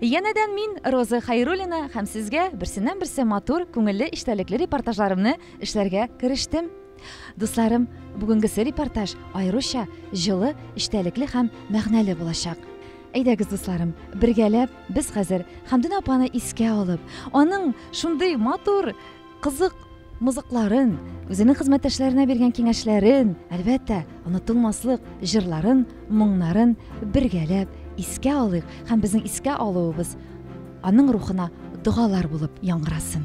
Янәдән мин, Роза Хайруллина, һәм сезгә берсеннән-берсе матур, күңелле, эчтәлекле репортажларымны эшләргә керештем. Дусларым, бүгенгесе репортаж аеруча җылы, эчтәлекле һәм мәгънәле булачак. Әйдәгез, дусларым, бергәләп без хәзер Хәмдүнә апаны искә алып, аның шундый матур кызык мызыкларын, үзенең хезмәттәшләренә биргән киңәшләрен, әлбәттә, онытылмаслык җырларын, моңнарын бергәләп искә алыйк һәм безнең искә алуыбыз аның рухына догалар булып яңгырасын.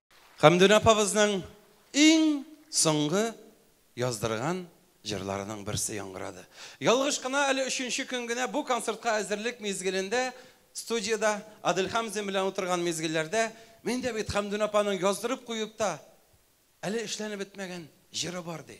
Хәмдүнә апабызның иң соңгы яздырган җырларының берсе яңгырады. Ялгыш кына әле өченче көн генә бу концертка әзерлек мизгелендә студиядә Адель Хәмзин белән утырган мизгелләрдә мин дә бит Хәмдүнә апаның яздырып куеп та әле эшләнеп бетмәгән җыры бар ди.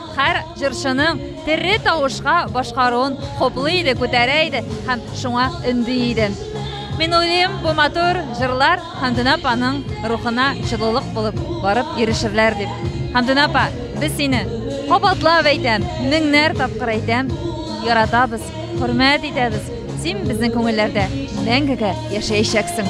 Һәр җырчының тере тавышка башкаруын хуплый иде, күтәрә иде һәм шуңа өнди иде. Мин уйлыйм, бу матур җырлар Хәмдүнә апаның рухына җылылык булып барып ирешерләр дип. Хәмдүнә апа, без сине кабатлап әйтәм, меңнәр тапкыр әйтәм, яратабыз, хөрмәт итәбез. Син безнең күңелләрдә мәңгегә яшәячәксең.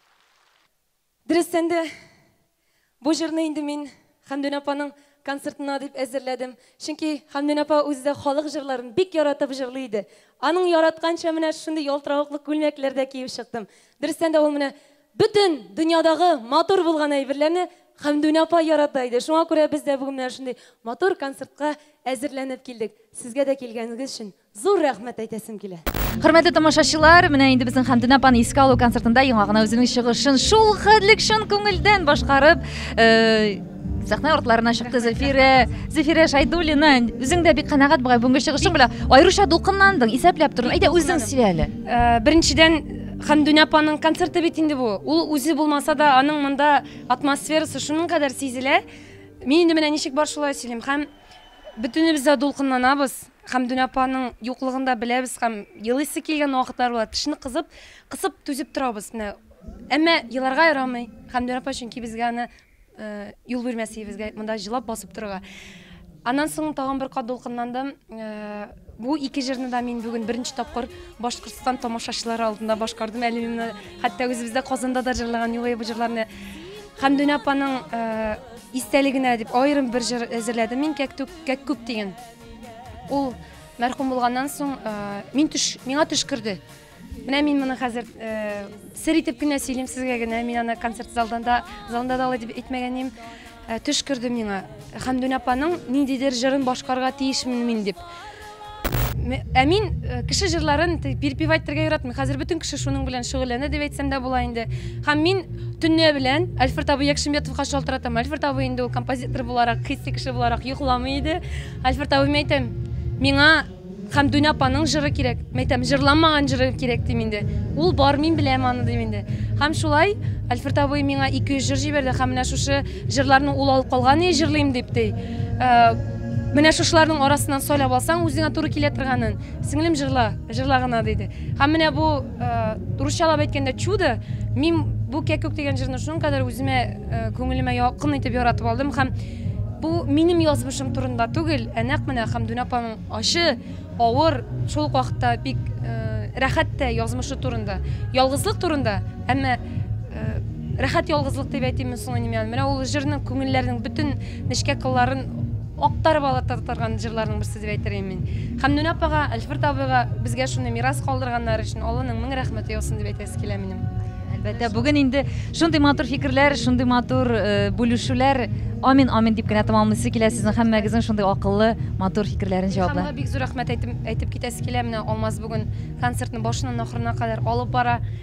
Дөрестән дә, бу җырны инде мин Хәмдүнә апаның концертына дип әзерләдем. Чөнки Хәмдүнә апа үзе дә халык җырларын бик яратып җырлый иде. Аның яратканча менә шундый ялтыравыклы күлмәкләр дә киеп чыктым. Дөрестән дә ул менә бөтен дөньядагы матур булган әйберләрне Хәмдүнә апа ярата иде. Шуңа күрә без дә бүген менә шундый матур концертка әзерләнеп килдек. Сезгә дә килгәнегез өчен Зур рәхмәт әйтәсем килә. Хөрмәтле тамашачылар, менә инде безнең Хәмдүнә апаны искә алу концертында яңа гына үзенең чыгышын шул хәтлек чын күңелдән башкарып, э, сәхнә артларына чыкты Зөлфирә, Зөлфирә Шайдуллина. Үзең дә бик канәгать бугай бүгенге чыгышың белән. Аеруча дулкынландың, исәпләп тордың. Әйдә үзең сөйлә әле. Э, беренчедән Хәмдүнә апаның концерты бит инде бу. Ул үзе булмаса да, аның монда атмосферасы шуның кадәр сизелә. Мин инде менә ничек бар шулай сөйлим. Һәм бөтенебез дә дулкынланабыз. Хәмдүнә апаның юклыгын да беләбез һәм елыйсы килгән вакытлар була. Тешне кызып, кысып түзеп торабыз. Менә. Әмма еларга ярамый. Хәмдүнә апа чөнки безгә аны э, юл бирмәс иде монда җылап басып торырга. Аннан соң тагын бер кат дулкынландым. Э, бу ике җырны да мин бүген беренче тапкыр Башкортстан тамашачылары алдында башкардым. Әле мин моны хәтта үзебездә Казанда да җырлаган юлы бу җырларны Хәмдүнә апаның э, истәлегенә дип аерым бер җыр әзерләдем мин Кәктүк, Кәккүк дигән. Ул мәрхүм булганнан соң мин төш, миңа төш керде. Менә мин моны хәзер сер итеп кенә сөйлим сезгә генә. Мин аны концерт залдан да, залында да алай дип әйтмәгәнем. Төш керде миңа. Хәмдүн апаның ниндидер җырын башкарга тиешмен мин дип. Ә мин кеше җырларын перепевать итәргә яратмыйм. Хәзер бөтен кеше шуның белән шөгыльләнә дип әйтсәм дә була инде. Һәм мин Төнлә белән Альфред абый Якшимбетовка шалтыратам. Альфред абый инде ул композитор буларак, хисси кеше буларак йокламый иде. Альфред абыйма әйтәм, миңа Хәмдүнә апаның җыры кирәк. Мәйтәм, җырламаган җыры кирәк дим инде. Ул бар, мин беләм аны дим инде. Һәм шулай Альфред абый миңа 200 җыр җибәрде һәм менә шушы җырларны ул алып калган и җырлыйм дип ди. Менә шушыларның арасыннан сайлап алсаң, үзеңә туры килә торганын, сеңлем җырла, җырла гына диде. Һәм менә бу русчалап әйткәндә чудо, мин бу кәкүк дигән җырны шуның кадәр үземә күңелемә якын итеп яратып алдым һәм бу минем язмышым турында түгел, ә нәкъ менә Хәмдүн апаның ачы, авыр, шул ук вакытта бик рәхәт тә язмышы турында, ялгызлык турында, әмма рәхәт ялгызлык дип әйтимме соң инде мин, менә ул җырның күңелләрнең бөтен нечкә кылларын Актарып алатартарган җырларның берсе дип әйтер идем мин. Хәмдүнә апага, Әлферт абыйга безгә шуны мирас калдырганнары өчен Алланың мең рәхмәте яусын дип әйтәсе килә минем. Әлбәттә, бүген инде шундый матур фикерләр, шундый матур э, бүлешүләр. Амин, амин дип кенә тәмамлыйсы килә сезнең һәммәгезнең шундый акыллы, матур фикерләрен җаваплы. Илһамга бик зур рәхмәт әйтеп, әйтеп китәсе килә. Менә Алмаз бүген концертны башыннан ахырына кадәр алып бара.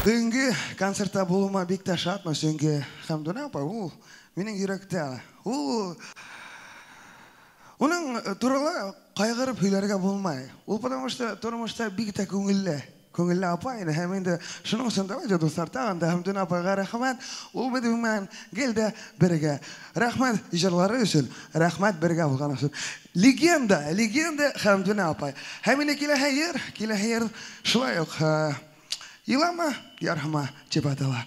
Бүгенге концертта булуыма бик тә шатмын, чөнки Хәмдүнә апа ул минем йөрәктә. Ул Уның турында кайгырып һөйләргә булмай. Ул потому что тормышта бик тә күңелле. Күңелле апа иде һәм инде шуның өчен дә радио дуслар тагын да Хәмдүнә апайга рәхмәт. Ул бит гомумән гел дә бергә. Рәхмәт җырлары өчен, рәхмәт бергә булганың өчен. Легенда, легенда Хәмдүнә апай. Һәм инде киләһе ел, киләһе ел шулай ук Елама ярһыма дип атала.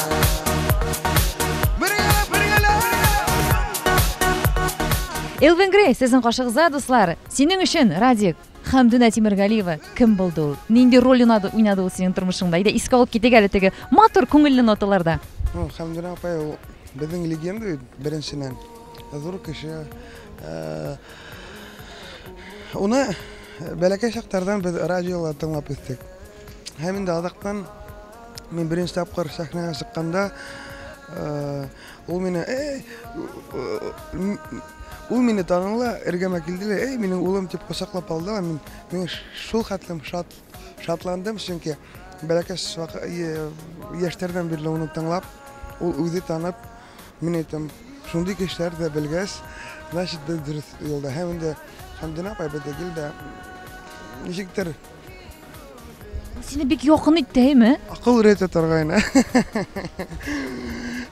Элвин Грей, сезнең кашыгызда, дуслар. Синең өчен, Радик, Хәмдүнә Тимергалиева кем булды ул? Нинди роль уйнады, уйнады ул синең тормышыңда? Иде искә алып китик әле теге матур күңелле ноталарда. Ну, Хәмдүнә апа ул безнең легенда бит беренченнән. Зур кеше. Э, уны бәләкәй чактардан без радиола тыңлап үстек. Һәм инде азактан Мин беренче тапкыр сәхнәгә чыкканда, ул мине, эй, ул мине таныла, эргәмә килде лә, эй, минем улым дип кочаклап алды. Мин, мин шул хәтлем шат, шатландым, чөнки бәләкәч яшьтәрдән бирле аны тыңлап, ул үзе танып, мин әйтәм, шундый кешеләр дә белгәч, значит, без дөрес юлда. Һәм инде Хәмдинә апай безгә килде. Ничектер Сине бик якын итте, әйме? Акыл өйрәтә торгайны.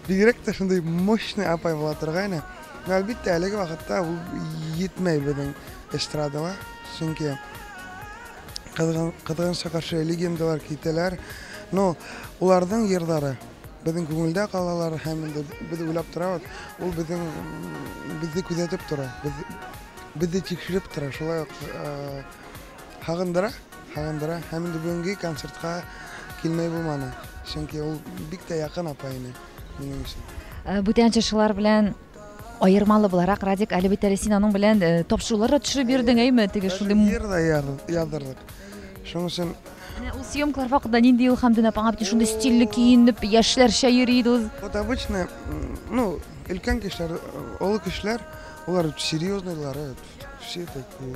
Бигрәк тә шундый мощный апай була торгайны. Но әлбәттә, әлеге вакытта ул җитмәй безнең эстрадага. Чөнки кызганычка каршы легендалар китәләр. Но уларның җырлары безнең күңелдә калалар һәм инде без уйлап торабыз. Ул безнең безне күзәтеп тора. Без безне тикшереп тора. Шулай ук Һагындыра, һагындыра. Һәм инде бүгенге концертка килмәй булманы. Чөнки ул бик тә якын апа ине минем өчен. Э, бүтән җырчылар белән аермалы буларак радик әле бит әле син аның белән э, тапшырулар да төшереп йөрдең әйме теге шундый җыр да яздырдык шуның өчен менә ул съемкалар вакытында нинди ул хамдин апаң бит шундый стильле киенеп яшьләрчә йөри иде ул вот обычно ну өлкән кешеләр олы кешеләр олар серьезныйлар все такие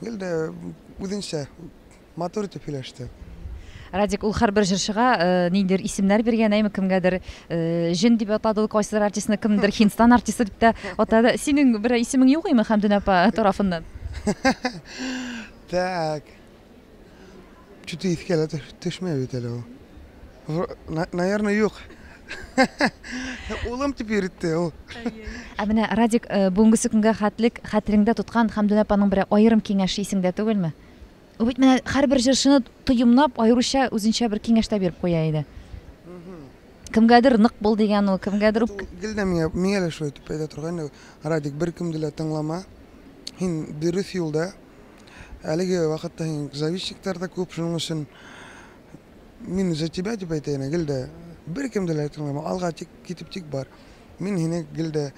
Гел дә үзенчә матур итеп сөйләште. Радик ул һәрбер җырчыга э, ниндидер исемнәр биргән, әйме кемгәдер э, җен дип атады ул кайсыдыр артистны, кемдер Хинстан артисты дип тә атады. Синең бер исемең юк име Хәмдүн апа тарафыннан? Так. Что-то иске ала төшмәй бит әле ул. Наверное, юк. Улым дип йөртте ул. Ә менә Радик э, бүгенгесе көнгә хәтлек хәтереңдә тоткан Хәмдүнә апаның бер аерым киңәше исеңдә түгелме? Ул бит менә һәрбер җырчыны тоемнап, аеруча үзенчә бер киңәштә биреп куя иде. Кемгәдер нык бул дигән ул, кемгәдер үк. Гел дә миңа, миңа да шулай дип әйтә торган Радик, беркемне дә тыңлама. Һин дөрес юлда, Әлеге вакытта инде зависчиктар да күп, шуның өчен мин за тебя дип әйтәйне, гел дә беркем дә тыңламый, алга тик китеп тик бар. Мин һине гел дә,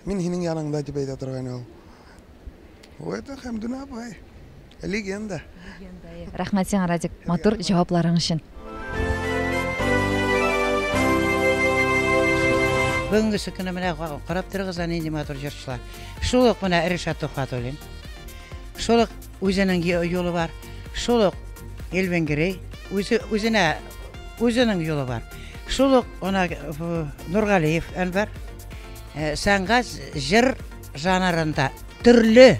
мин һинең яныңда дип әйтә торган ул. Бу это Хәмдүнә апай. Легенда. Рәхмәт сиңа, Радик, матур җавапларың өчен. Бүгенге сөкене менә карап торыгыз, әни, матур җырчылар. Шул ук менә Ришат Тухатуллин. Шул ук үзенең юлы бар. Шул ук Эльвин Грей. Үзе, үзенә, үзенең юлы бар. Шул ук она, Нургалиев Әнвәр. Э, сәнгать җыр жанрында төрле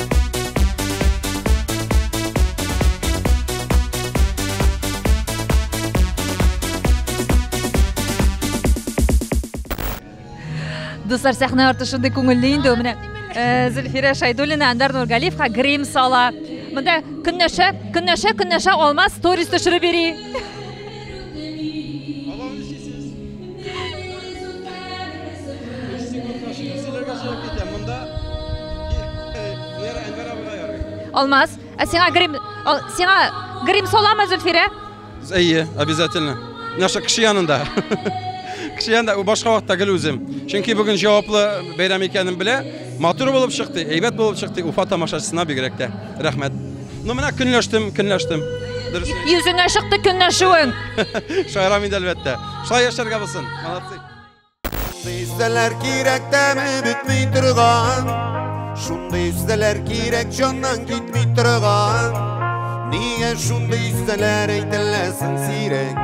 Дуслар, сәхнә арты шундый күңелле инде. Менә э, Зөлфирә Шайдуллина, Андар Нургалиевка грим сала. Монда көннәшә, көннәшә, көннәшә алмаз сторис төшереп йөри. Алмаз, ә сиңа грим, ал, сиңа грим соламы Зөлфирә? Әйе, обязательно. Нәрсә кеше янында. Кеше янында башка вакытта гел үзем. Чөнки бүген җаваплы бәйрәм икәнен белә. Матур булып чыкты, әйбәт булып чыкты. Уфа тамашачысына бигрәк тә. Рәхмәт. Ну менә көнләштем, көнләштем. Дөресен. Йөзеңә чыкты көнләшүең. Шаярам инде әлбәттә. Шулай яшәргә булсын. Молодцы. Дистәләр кирәк тәме бетми торган. Шундый истәләр кирәк җаннан китми торган. Нигә шундый истәләр әйтеләсен сирәк?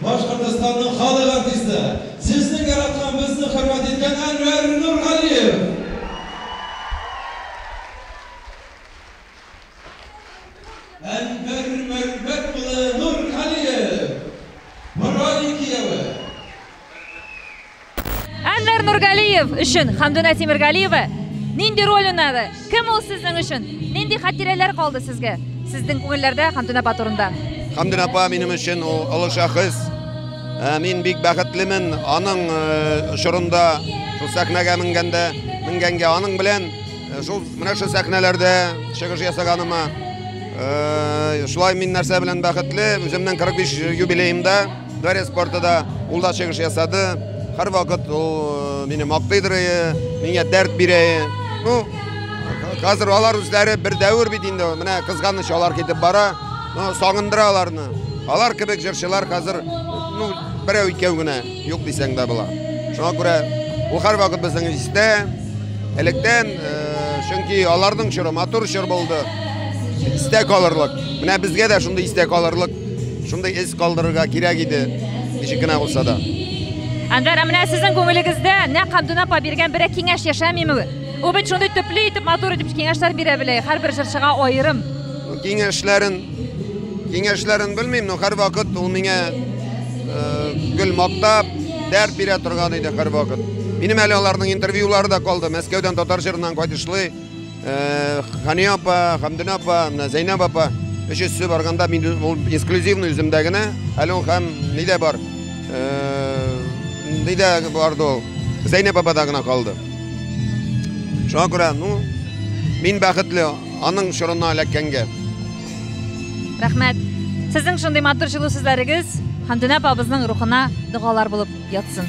Башкортостанның халык артисты, сезне яраткан, безне хөрмәт иткән Әнвәр Нургалиев! Әнвәр Мәрвәт улы Нургалиев! Борай кияве! Әнвәр Нургалиев өчен Хамдуна Тимиргалиева нинди роль уйнады? Кем ул сезнең өчен? Нинди хатирәләр калды сезгә? Сезнең күңелләрдә Хамдуна апа турында. Хамдуна апа минем өчен ул олы шәхес. Ә, мин бик бәхетлемен аның э, чорында шул сәхнәгә менгәндә, менгәнгә аның белән э, шул менә шул сәхнәләрдә чыгыш ясаганыма. Э, шулай мин нәрсә белән бәхетле, үземнең 45 юбилеемда Гарри спорты да ул да чыгыш ясады. Һәрвакыт ул мине мактыйдыр, миңа дәрт бирә. Ну, хәзер алар үзләре бер дәвер бит инде. Менә кызганыч алар китеп бара. Ну, сагындыра аларны. Алар кебек җырчылар хәзер ну, берәү икәү генә юк дисәң дә була. Шуңа күрә ул һәрвакыт безнең истә. Электән, чөнки аларның чоры матур чор булды. Истә калырлык. Менә безгә дә шундый истә калырлык. Шундый эз калдырырга кирәк иде, ничек кенә булса да. Әнвәр, ә менә сезнең күңелегездә нәкъ Абдуна апа биргән берәр киңәш яшәмиме? Ул бит шундый төпле итеп, матур итеп киңәшләр бирә белә, һәрбер җырчыга аерым. Киңәшләрен, киңәшләрен белмим, но һәрвакыт ул миңа гел мактап, дәрт бирә торган иде һәрвакыт. Минем әле аларның интервьюлары да калды, Мәскәүдән татар җырыннан кайтышлый. Хания апа, Хамдина апа, Зәйнәб апа өч өссе барганда мин ул эксклюзивный үземдә генә, әле ул һәм нидә бар. Нидә барды ул? Зәйнәб апада гына калды. Шуңа күрә, ну, мин бәхетле аның чорына эләккәнгә. Рәхмәт. Сезнең шундый матур җылы сүзләрегез Хандүнә апабызның рухына догалар булып ятсын.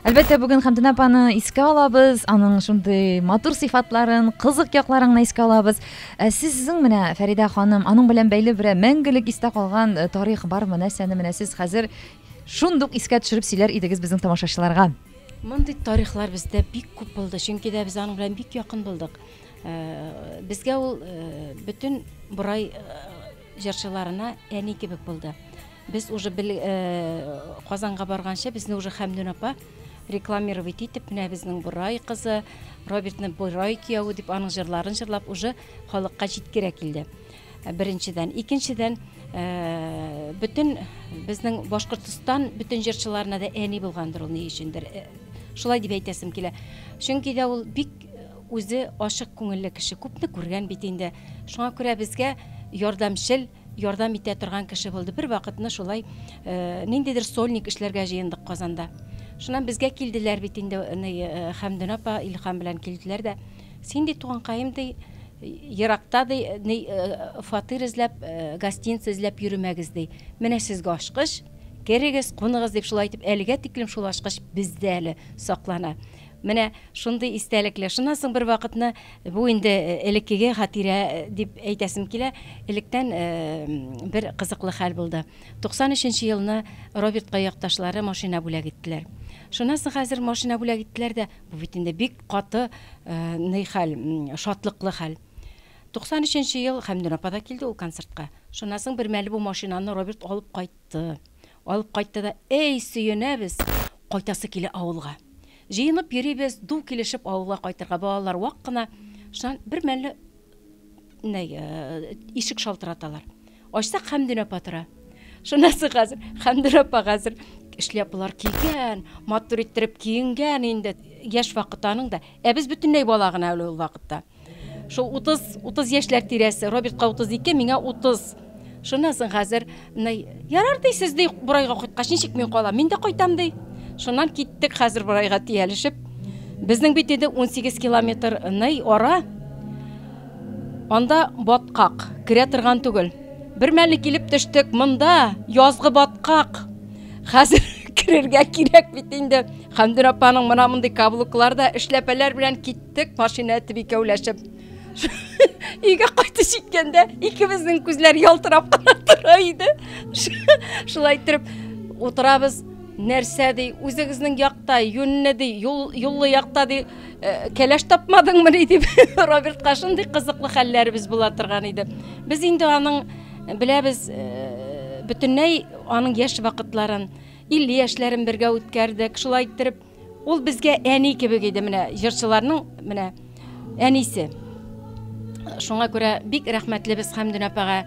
Әлбәттә, бүген Хәмдүнә апаны искә алабыз, аның шундый матур сыйфатларын, кызык якларын искә алабыз. Ә сезнең менә, Фәридә ханым, аның белән бәйле берәр мәңгелек истә калган э, тарих бармы? Нәрсәне менә сез хәзер шундук искә төшереп сөйләр идегез безнең тамашачыларга? Мондый тарихлар бездә бик күп булды, чөнки дә без аның белән бик якын булдык. Э, Безгә ул э, бөтен борай э, җырчыларына әни кебек булды. Без уже бел Казанга барганчы безне уже Хәмдүн апа рекламировать итеп менә безнең Борай кызы, Робертны Борай кияве дип аның җырларын җырлап уже халыкка җиткерә килде. Э, беренчедән, икенчедән э, бөтен безнең Башкортстан бөтен җырчыларына да әни булгандыр ул ни өчендер. Э, шулай дип әйтәсем килә. Чөнки дә ул бик үзе ачык күңелле кеше, күпне күргән бит инде. Шуңа күрә безгә ярдәмчел Ярдәм итә торган кеше булды. Бер вакытны шулай ниндидер сольник эшләргә җыендык Казанда. Шуннан безгә килделәр бит инде Хәмдүн апа, Илһам белән килделәр дә. Син ди туганкаем ди, еракта ди фатир эзләп, гостиница эзләп йөремәгез ди. Менә сезгә ачкыч, керегез, куныгыз, дип шулай итеп әлегә тиклем шул ачкыч бездә әле саклана. Менә шундый истәлекле. Шуннан соң бервакытны бу инде элеккеге хатирә дип әйтәсем килә. Электән бер кызыклы хәл булды. 93 нче елны Робертка якташлары машина бүләк иттеләр. Шуннан соң хәзер машина бүләк иттеләр дә, бу бит инде бик каты ный хәл, шатлыклы хәл. 93 нче ел Хәмдүн апа да килде ул концертка. Шуннан соң бермәле бу машинаны Роберт алып кайтты. Алып кайтты да, Әй, сөенәбез, кайтасы килә авылга. Җыенып йөрибез, ду килешеп авылга кайтырга. Балалар вак кына. Шуннан бер мәлне ишек шалтыраталар. Ачсак, Хәмдүн апа тора. Шунысы хәзер, Хәмдүн апа хәзер шляпалар кигән, матур иттереп киенгән инде. Яшь вакыты аның да. Ә без бөтенләй бала гына әле ул вакытта. Шул 30, 30 яшьләр тирәсе, Робертка 32, миңа 30. Шуннан соң хәзер, ярар ди, сез ди, Бурайга кайткач, ничек мин калам? Мин дә кайтам ди. Шуннан киттек хәзер Бурайга тиялешеп. Безнең бит инде 18 километр ный ара. Анда баткак, керә торган түгел. Бер мәле килеп төштек, монда язгы баткак. Хәзер керергә кирәк бит инде. Хәмдүр апаның мына мондый каблукларда эшләпәләр белән кит Тек машина итеп икәүләшеп өйгә кайтып җиткәндә икебезнең күзләр ялтырап кына тора иде. Шулай итеп утырабыз. Нәрсә ди, үзегезнең якта, юнне ди, юл, юллы якта ди, э, кәләш тапмадыңмы ди дип Робертка шундый кызыклы хәлләребез була торган иде. Без инде аның э, беләбез э, бөтенләй аның яшь вакытларын, 50 яшьләрен бергә үткәрдек. Шулай иттереп Ул безгә әни кебек иде, менә җырчыларның менә әнисе. Шуңа күрә бик рәхмәтлебез Хәмдүн апага.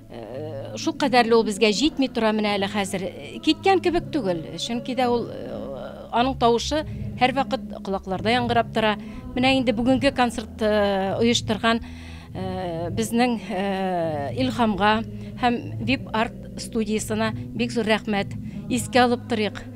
Э, шул кадәрле ул безгә җитми тора менә әле хәзер. Киткән кебек түгел, чөнки дә ул э, аның тавышы һәрвакыт колакларда яңгырап тора. Менә инде бүгенге концерт э, оештырган безнең Илхамга һәм VIP Art студиясенә бик зур рәхмәт. Искә алып торыйк.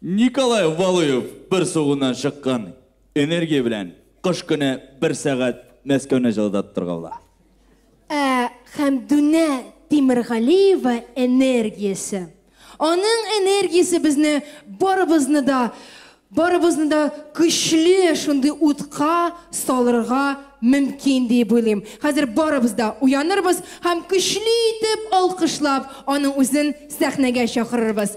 Николай Валуев бер сугуннан чыккан энергия белән кыш көне бер сәгать Мәскәүне җылытаттырга була. Ә Хәмдүнә Тимергалиева энергиясе, аның энергиясе безне барыбызны да, барыбызны да көчле шундый утка салырга мөмкин диеп уйлыйм. Хәзер барыбыз да уянырбыз һәм көчле итеп алкышлап аның үзен сәхнәгә чакырырбыз.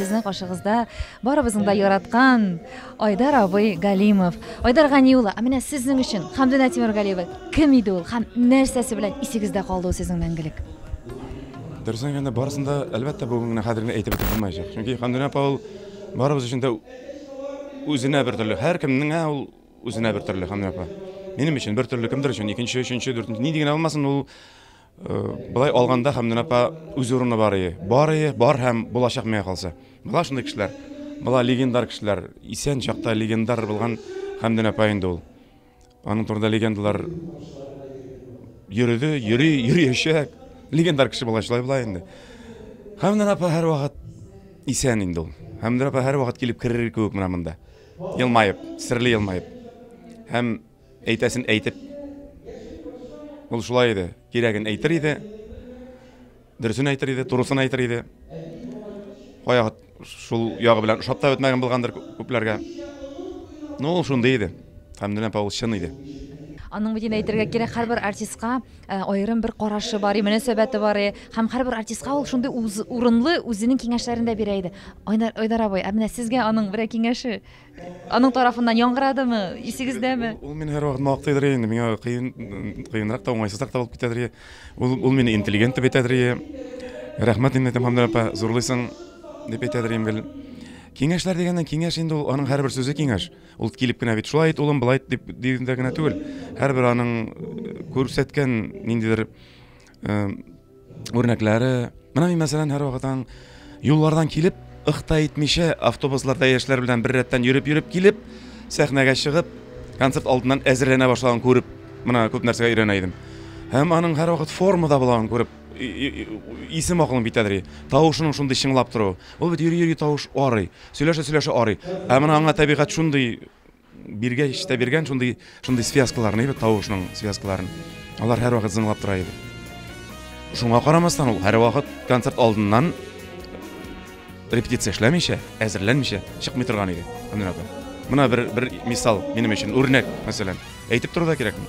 сезнең каршыгызда барыбызның да яраткан Айдар абый Галимов. Айдар Гани улы, ә менә сезнең өчен Хамдина Тимергалиева кем иде ул һәм нәрсәсе белән исегездә калды ул сезнең мәңгелек? Дөресен әйткәндә, барысын да әлбәттә бүген генә хәзер генә әйтеп бетереп булмаячак. Чөнки Хамдина апа ул барыбыз өчен дә Үзенә бер төрле. Һәр кемнеңә ул үзенә бер төрле, Ханна апа. Минем өчен бер төрле, кемдер өчен икенче, өченче, дүртенче, нинди генә булмасын, ул э, былай алганда Хәмдүн апа үз урыны бар ие. Бар ие, бар һәм булачак миңа калса. Була шундый кешеләр. Була легендар кешеләр. Исән чакта легендар булган Хәмдүн апа инде ул. Аның турында легендалар йөрде, йөри, йөриячәк. Легендар кеше була шулай була инде. Хәмдәр апа һәрвакыт исән инде ул. Хәмдәр апа һәрвакыт килеп керер кебек менә монда. Елмаеп, серле елмаеп. Һәм әйтәсен әйтеп. Ул шулай иде. Кирәген әйтер иде. Дөресен әйтер иде, турысын әйтер иде. Кая шул ягы белән ошап та бетмәгән булгандыр күпләргә. Ну, ул шундый иде. Хәмдүнә апа ул чын иде. Аның бит инде әйтергә кирәк, һәрбер артистка э, аерым бер карашы бар, и мөнәсәбәте бар, и һәм һәрбер артистка ул шундый урынлы үзенең киңәшләрен дә бирә иде. Айдар, Айдар абый, ә менә сезгә аның берәр киңәше Аның тарафыннан яңгырадымы, исегездәме? Ул мине һәрвакыт мактыйдыр инде, миңа кыен, кыенрак та, уңайсызрак та булып китәдер. Ул, ул мине интеллигент дип әйтәдер. Рәхмәт инде, Тәмамдәр апа, зурлыйсың, дип әйтәдер гел. Киңәшләр дигәннән киңәш инде ул, аның һәрбер сүзе киңәш. Ул килеп кенә бит шулай ит, улым, былай ит дип дигәндә генә түгел. Һәрбер аның күрсәткән ниндидер үрнәкләре менә мин мәсәлән һәрвакытан юллардан килеп ыхта итмичә автобусларда яшьләр белән бер рәттән йөреп йөреп килеп сәхнәгә чыгып концерт алдыннан әзерләнә башлаган күреп менә күп нәрсәгә өйрәнә идем һәм аның һәрвакыт формада булганын күреп исем акылың битәдер тавышының шундый чыңлап торуы ул бит йөри йөри тавыш арый сөйләшә сөйләшә арый ә менә аңа табигать шундый Биргәч тә биргән шундый, шундый связкаларны, әйбәт тавышның связкаларын. Алар һәрвакыт зыңлап тора иде. Шуңа карамастан ул һәрвакыт концерт алдыннан репетиция эшләмичә, әзерләнмичә чыкмый торган иде. Менә бер бер мисал минем өчен үрнәк, мәсәлән. Әйтеп тору да кирәкми.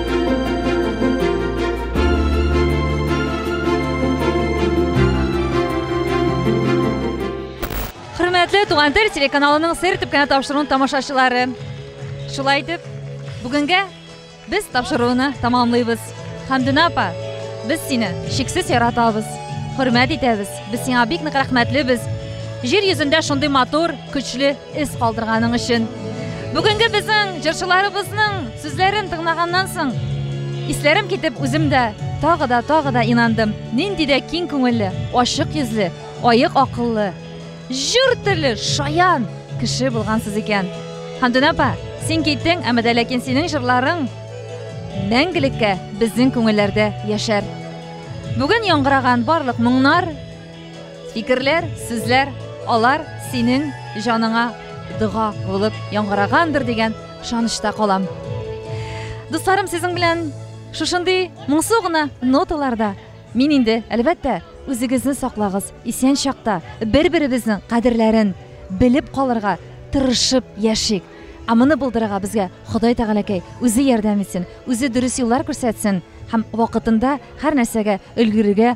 Хөрмәтле Туган тел телеканалының сер итеп кенә тапшыруын тамашачылары. Шулай итеп, бүгенгә без тапшыруны тамамлыйбыз. Хәмдүнә апа, без сине шиксез яратабыз, хөрмәт итәбез. Без сиңа бик нык рәхмәтлебез. Җир йөзендә шундый матур, көчле Эз калдырганың өчен. Бүгенге безнең җырчыларыбызның сүзләрен тыңлаганнан соң, исләрем китеп үзем дә тагы да тагы да инандым нинди дә киң күңелле ачык йөзле аек акыллы җыр теле шаян кеше булгансыз икән хандүн апа син киттең әмма дә ләкин синең җырларың мәңгелеккә безнең күңелләрдә яшәр бүген яңгыраган барлык моңнар Фикерләр, сүзләр, алар синең җаныңа дога булып яңгырагандыр дигән шанышта калам. Дусларым, сезнең белән шушындый моңсу гына ноталарда мин инде, әлбәттә, үзегезне саклагыз, исән чакта бер-беребезнең кадерләрен белеп калырга тырышып яшик. Ә моны булдырырга безгә Ходай Тәгаләкәй үзе ярдәм итсен, үзе дөрес юллар күрсәтсен һәм вакытында һәр нәрсәгә өлгерергә